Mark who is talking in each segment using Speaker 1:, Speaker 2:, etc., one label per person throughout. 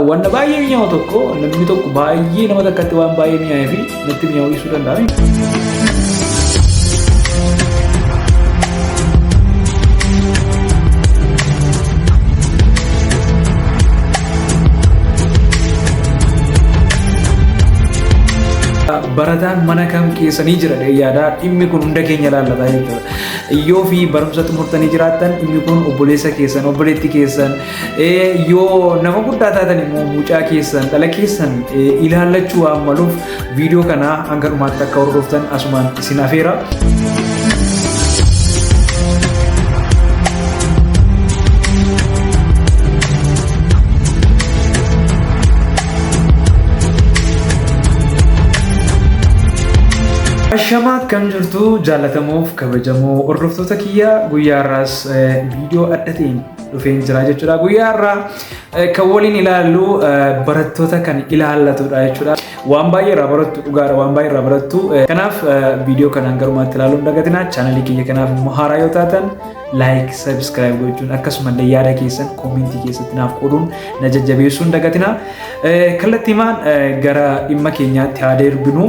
Speaker 1: Wanna baay'ee mi'aawu tokko namni tokko baay'ee nama takkatti waan baay'ee mi'aawee fi natti mi'aawuu ibsuu danda'a. barataan mana kam keessanii jira yaadaa dhimmi kun hunda keenya laallataa jechuudha. Yoo fi barumsa xumurtanii jiraattan dhimmi kun obboleessa keessan obboleetti keessan Eh, yoo nama guddaa taatan immoo mucaa keessan dhala keessan eh, ilaallachuu waan maluuf viidiyoo kana hanga dhumaatti akka hordoftan asumaan isin afeera. Ashamaa akkam jirtu jaalatamuuf kabajamoo hordoftoota kiyya guyyaa irraas eh, viidiyoo adda ta'een dhufeen jira jechuudha. Guyyaa irraa kan waliin ilaallu barattoota kan ilaallatudha jechuudha. Waan baay'ee irraa barattu dhugaadha waan baay'ee irraa barattu. Kanaaf viidiyoo kanaan garumaatti ilaaluu hin dagatinaa. Chaanalii kiyya kanaaf immoo haaraa yoo taatan laayik, sabiskiraayib gochuun akkasumallee yaada keessan koomentii keessatti naaf qooduun na jajjabeessuun dagatinaa. Kallattiimaan gara dhimma keenyaatti haa deerbinu.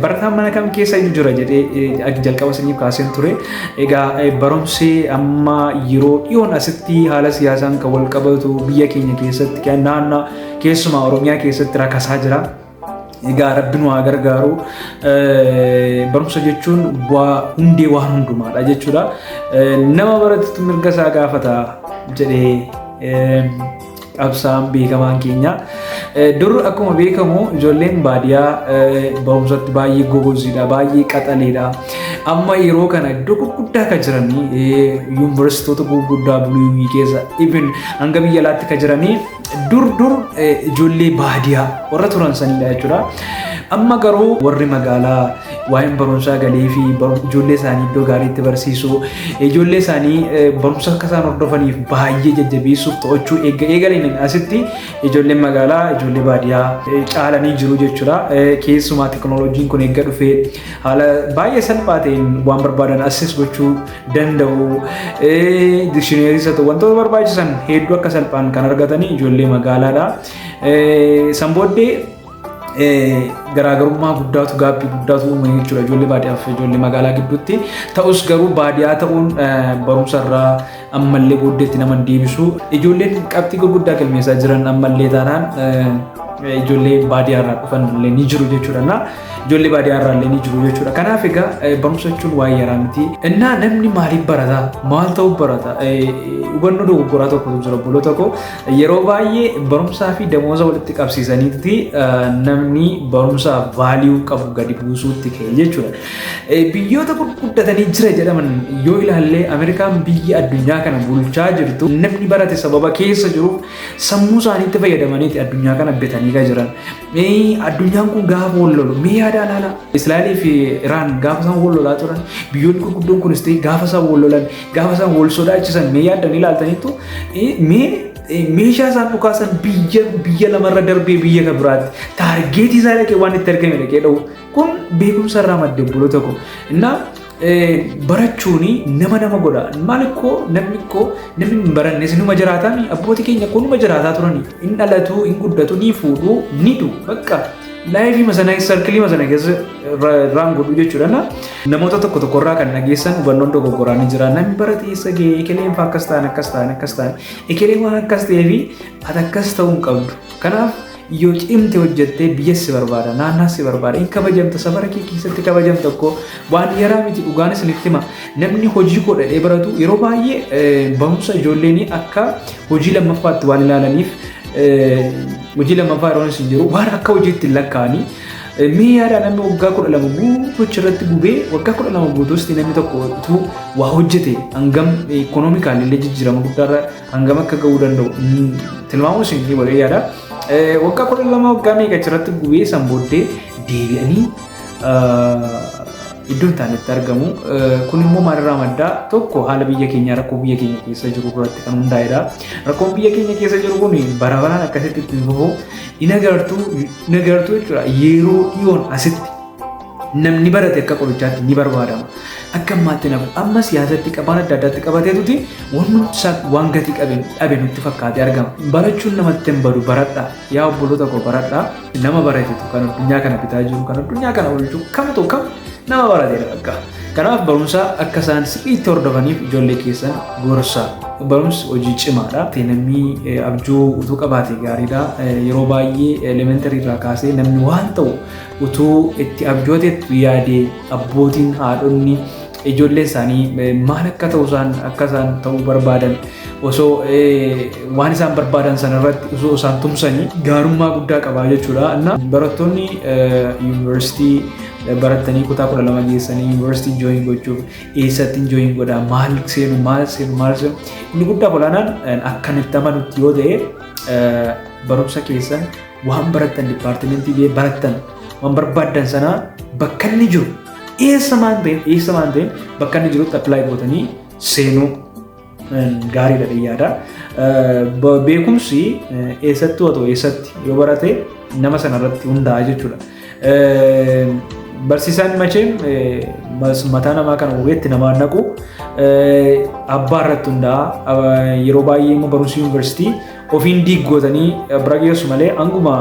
Speaker 1: Barataan mana kam keessa iyyuu jira jedhee jalqaba isiniif kaaseen ture. Egaa barumsi amma yeroo dhiyoon asitti haala siyaasaan kan wal qabatu biyya keenya keessatti naannaa keessumaa Oromiyaa keessatti rakasaa jira. Egaa rabbi nu haa gargaaru. Barumsa jechuun bu'aa hundee waan hundumaadha jechuudha. Nama baratutti mirga isaa gaafata jedhee qabsaan beekamaan keenya. Dur akkuma beekamu ijoolleen baadiyaa barumsatti baay'ee gogoziidha, baay'ee qaxaleedha. Amma yeroo kana iddoo gurguddaa kan jiran yuunivarsiitota gurguddaa buluu keessa ibin hanga biyya alaatti kan jiranii dur dur ijoollee baadiyaa warra turan sanidha jechuudha. Amma garuu warri magaalaa waa'een barumsaa galee fi ijoollee isaanii iddoo gaariitti barsiisu ijoollee isaanii barumsa akka isaan hordofaniif baay'ee jajjabeessuuf to'achuu eegga eegaleen asitti ijoolleen magaalaa ijoollee baadiyaa caalanii jiru jechuudha. Keessumaa teknooloojiin kun eegga dhufee haala baay'ee salphaa ta'een waan barbaadan assis gochuu danda'u dikshineerii isa ta'u wantoota barbaachisan hedduu akka salphaan kan argatanii ijoollee magaalaadha. San booddee garaagarummaa guddaatu gaaffii guddaatu uumame jechuudha ijoollee baadiyyaa fi ijoollee magaalaa gidduutti. Ta'us garuu baadiyyaa ta'uun barumsa irraa ammallee booddeetti nama deebisu. Ijoolleen qabxii gurguddaa galmeessaa jiran ammallee taanaan ijoollee baadiyyaa irraa dhufan illee ni jiru jechuudha. Ijoollee baadiyyaa irraa illee ni jiru jechuudha. Kanaaf egaa eh, barumsa jechuun waa'ee yaraa miti. Innaa namni maaliif barata? Maal ta'uuf barata? Eh, Hubannoo dogoggoraa tokkotu jira obboloota koo. Yeroo baay'ee barumsaa fi damooza walitti qabsiisanitti eh, namni barumsaa vaaliyuu qabu gadi buusuutti ka'e jechuudha. Eh, Biyyoota gurguddatanii jira jedhaman yoo ilaalle Ameerikaan biyya addunyaa kana bulchaa jirtu namni barate sababa keessa jiruuf sammuu isaaniitti fayyadamaniiti addunyaa kana bitanii kan jiran. Mee addunyaan kun gaafa wal lolu mee yaada alaala. Israa'elii fi Iraan gaafa isaan wal lolaa turan biyyoonni gurguddoon kunis ta'e gaafa isaan wal lolan gaafa isaan wal sodaachisan mee yaaddan ilaaltaniitu mee meeshaa isaan dhukaasan biyya biyya lamarra darbee biyya kan biraatti taargeetii isaa dhaqee waan itti argame dhaqee dha'u kun beekumsa irraa madde bulo tokko. Innaa barachuun nama nama godha. Maal koo namni koo namni hin baranne sinuma jiraataa mi abbooti keenya koo numa jiraataa turani. Hin dhalatu, hin guddatu, ni fuudhu, ni du bakka laayifii masanaa sarkilii masanaa keessa irraan godhu jechuudha. Na namoota tokko tokko irraa kan dhageessan hubannoon dogoggoraa ni jira. Namni barate eessa ga'e ekeleen fa'aa akkas ta'an akkas ta'an akkas ta'an ekelee waan akkas ta'ee fi ati akkas ta'uu hin qabdu. Kanaaf Yoo cimte hojjettee biyyas si barbaada, naannaas si barbaada, hin kabajamta, safara kee keessatti kabajamta koo waan yaraa miti dhugaan isinitti hima. Namni hojii koo dhadhee baratu yeroo baay'ee barumsa ijoolleen akka hojii lammaffaatti waan ilaalaniif hojii lammaffaa yeroo isin jiru waan akka hojiitti hin lakkaa'anii mee yaada namni waggaa kudha lama guutuu achirratti gubee waggaa kudha lama guutuusti namni tokko utuu waa hojjete hangam ikoonoomikaalillee jijjiirama guddaarra Hangam akka ga'uu danda'u tilmaamuun isin ni bareedaadha. Waggaa kudha lama waggaa meeqa achirratti gubee san booddee deebi'anii iddoo hin taanetti argamu. Kun immoo maalirraa madda? Tokko haala biyya keenyaa rakkoo biyya keenya keessa jiru irratti kan hundaa'edha. Rakkoon biyya keenya keessa jiru kun bara baraan akkasitti itti fufu hin agartu jechuudha. Yeroo dhiyoon asitti Namni barate akka qorichaatti ni barbaadama. Akka ammaatti hin hafu. Amma siyaasatti qabaan adda addaatti qabateetuti wanumti isaa waan gatii qabe dhabe nutti fakkaatee argama. Barachuun namatti hin badu baradha. Yaa obboloota koo baradha. Nama baratetu kan addunyaa kana bitaa jiru kan addunyaa kana oolchu kam ta'u kam nama barateedha bakka. Kanaaf barumsa akka isaan sirriitti hordofaniif ijoollee keessan gorsa. Barumsi hojii cimaadha. Namni abjuu utuu qabaate gaariidha. Yeroo baay'ee elementarii irraa kaasee namni waan ta'u Utuu itti abjooteettu yaadee abbootiin haadhonni ijoollee isaanii eh, maal akka ta'u isaan akka isaan ta'uu barbaadan osoo eh, waan isaan barbaadan sana irratti osoo isaan tumsanii gaarummaa guddaa qabaa jechuudha. Innaa barattoonni eh, yuunivarsiitii eh, baratanii kutaa kudha lama geessanii yuunivarsiitii jooyin gochuuf eessatti jooyin godhaa maal seenu maal seenu maal seenu inni guddaa olaanaan eh, akkanitti amanutti yoo ta'e eh, barumsa keessan waan barattan dipaartimentii bee barattan waan barbaaddan sanaa bakka inni jiru eessa maan ta'een eessa maan ta'een bakka inni jirutti apply gootanii seenuu gaariidha dhiyyaadha. Beekumsi eessatti otoo eessatti yoo barate nama sanarratti hundaa'a jechuudha. Barsiisaan macheem mataa namaa kana hubeetti namaa naqu abbaa irratti hundaa'a yeroo baay'ee immoo barumsi yuunivarsiitii Ofiin diig gootanii bira geessu malee hanguma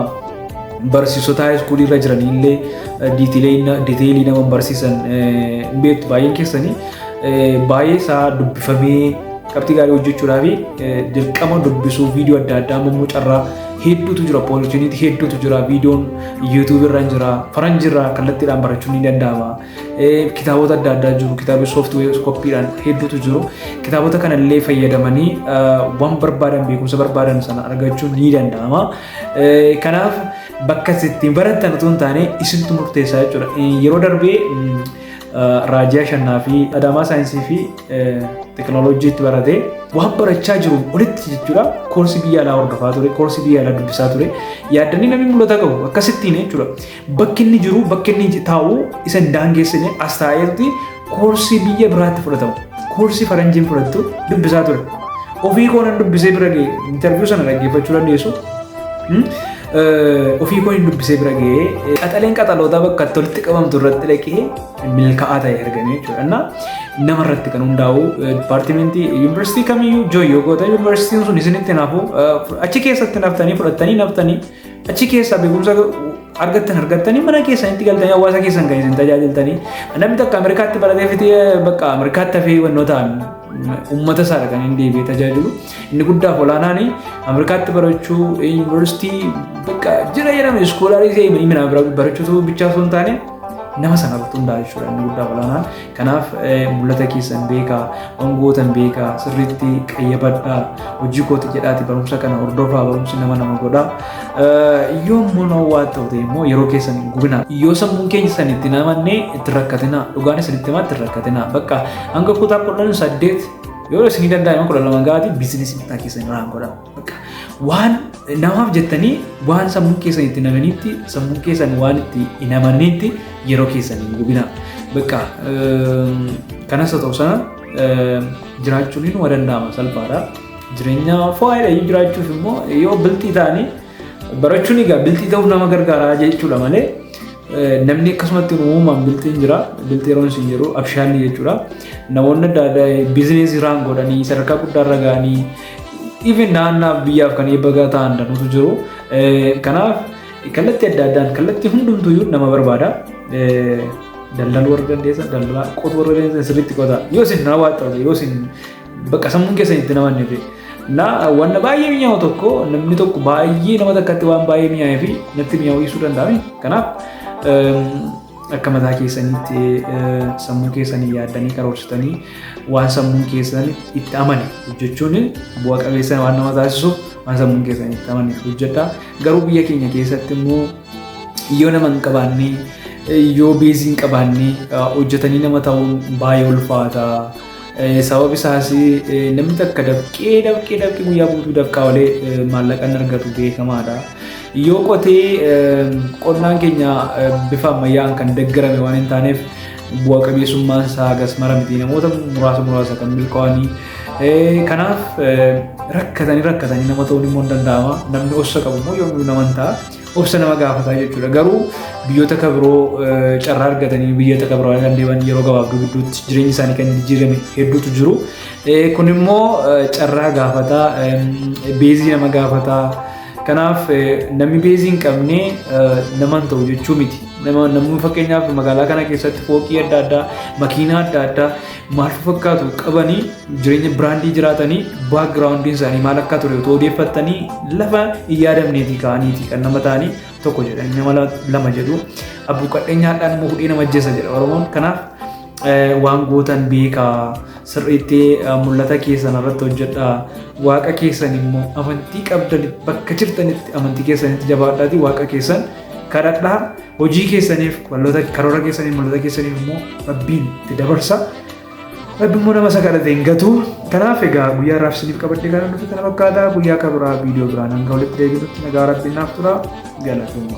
Speaker 1: barsiisota haayiskuulii irra jiranii illee diteelii nama barsiisan hin beektu baay'een keessanii baay'ee isaa dubbifamee qabxii gaarii hojjechuudhaa fi dirqama dubbisuu viidiyoo adda addaa ammoo carraa hedduutu jira poolishiniitti hedduutu jira viidiyoon yuutuubii irra jira faranjii irraa kallattiidhaan barachuun ni danda'ama kitaabota adda addaa jiru kitaabni sooftiweer koppiidhaan hedduutu jiru kitaabota kanallee fayyadamanii waan barbaadan beekumsa barbaadan sana argachuun ni danda'ama kanaaf bakka ittiin baratan utuu hin taane isintu murteessaa jechuudha yeroo darbee raajii ashannaa fi adaamaa saayinsii fi teekinooloojiitti barate waan barachaa jiru olitti jechuudha koorsii biyya alaa hordofaa ture koorsii biyya alaa dubbisaa ture yaaddanii namni mul'ata qabu akkasittiin jechuudha Bakki inni jiru, bakki inni taa'u isa hin daangeessine as taa'eerti koorsii biyya biraatti fudhatamu. Koorsii faranjiin fudhattu dubbisaa ture. Ofii koo nan dubbisee bira ga'e interviyuu sana dhaggeeffachuu dandeessu. Hmm? Eh, Ofii koo hin dubbisee bira ga'e qaxaleen qaxalootaa bakka itti walitti qabamtu irratti dhaqee milkaa'aa ta'e argame jechuudha. Innaa nama irratti kan hundaa'u eh, dipaartimentii yuunivarsiitii kamiyyuu jooyyoo goota yuunivarsiitiin sun isinitti nafu eh, achi keessatti naftanii fudhattanii naftanii Achi keessaa beekumsa argattan argattanii mana keessanitti galtanii hawaasa keessan kan isin tajaajiltanii namni takka Ameerikaatti baratee fitee bakka Ameerikaatti hafee wannootaan uummata isaa kan hin deebi'ee tajaajilu inni guddaaf olaanaan Ameerikaatti barachuu yuunivarsiitii bakka jira jedhame iskoolaarii ta'e himina barachuutu bichaa osoo hin taane nama sana irratti hundaa'e jechuudha inni guddaaf olaanaan Kanaaf mul'ata keessan beekaa, waan gootan beekaa, sirriitti qayyabadhaa, hojii kooti jedhaati barumsa kana hordofaa, barumsi nama nama godha. Yoo immoo waa ta'u ta'e immoo yeroo keessan hin gubinaa. Yoo sammuun keenya san itti namanne itti rakkatinaa, dhugaan isin itti himaa itti rakkatinaa. Bakka hanga kutaa kudhan saddeet yoo isin danda'ame kudha lama gaatii biizinasii mataa keessan irraa godhaa. Waan namaaf jettanii waan sammuu keessan itti namanitti sammuu keessan waan itti hin amannetti yeroo keessan hin gubina. Bakka kanas haa ta'u sana jiraachuun hin waa danda'ama salphaadha. Jireenya foo'aadha jiraachuuf immoo yoo biltii ta'anii barachuun egaa biltii ta'uuf nama gargaara jechuudha malee Namni akkasumatti uumamaan bilxiin jira. Bilxii yeroo isin jedhu abshaalli jechuudha. Namoonni adda addaa biizineesii irraan godhanii sadarkaa guddaa irra ga'anii even naannaaf biyyaaf kan eebbagaa ta'an danuutu jiru. Kanaaf kallattii adda addaan kallattii hundumtuyyuu nama barbaada. Daldaluu warra dandeessan daldalaa qotuu warra dandeessan sirriitti qotaa yoo isin na waaxxate yoo isin Bakka sammuun keessan itti nama hin Na wanna baay'ee mi'aawu tokko namni tokko baay'ee nama takkatti waan baay'ee mi'aawee fi natti mi'aawu ibsuu danda'ame. Kanaaf akka mataa keessanitti sammuu keessanii yaaddanii karoorsitanii waan sammuun keessan itti amane hojjechuun bu'a qabeessa waan nama taasisuuf waan sammuun keessan itti amane hojjedha. Garuu biyya keenya keessatti immoo yoo nama hin qabaanne yoo beezii hin qabaanne hojjetanii nama ta'uun baay'ee ulfaata. Sababi isaas namni takka dafqee dafqee dafqee guyyaa guutuu dafqaa olee maallaqa hin argatu beekamaadha. Yoo qotee qonnaan keenya bifa ammayyaan kan deeggarame waan hin taaneef bu'a qabeessummaan isaa hagas mara miti namoota muraasa muraasa kan milkaa'anii. Kanaaf rakkatanii rakkatanii nama ta'uun immoo hin danda'ama. Namni ossa qabu immoo yoomuu nama hin ta'a. obsa nama gaafataa jechuudha. Garuu biyyoota akka biroo carraa argatanii biyyoota akka biroo kan deeman yeroo gabaabduu gidduutti jireenyi isaanii kan jijjiirame hedduutu jiru. Kun immoo carraa gaafataa, beezii nama gaafataa. Kanaaf namni beezii hin qabne nama hin ta'u jechuu miti. Namni fakkeenyaaf magaalaa kana keessatti fooqii adda addaa, makiinaa adda addaa maal fakkaatu qabanii jireenya biraandii jiraatanii baakgiraawundiin isaanii maal akka ture otoo odeeffattanii lafa hin yaadamneetii ka'aniiti kan nama ta'anii tokko jedhan nama lama jedhu abbuu qadheenyaadhaan immoo hudhee nama ajjeessa jedha oromoon kanaaf waan gootan beekaa sirriitti mul'ata keessan irratti hojjedha waaqa keessan immoo amantii qabdan bakka jirtanitti amantii keessanitti jabaadhaati waaqa keessan kadhadhaa hojii keessaniif walloota karoora keessaniif malloota keessaniif immoo rabbiin itti dabarsa. Rabbi immoo nama isa kadhate hin gatu. Kanaaf egaa guyyaa irraaf isiniif qabadhee kan dhufe kana fakkaata guyyaa akka biraa viidiyoo biraan hanga walitti deebinutti nagaa rabbiin naaf tura galatooma.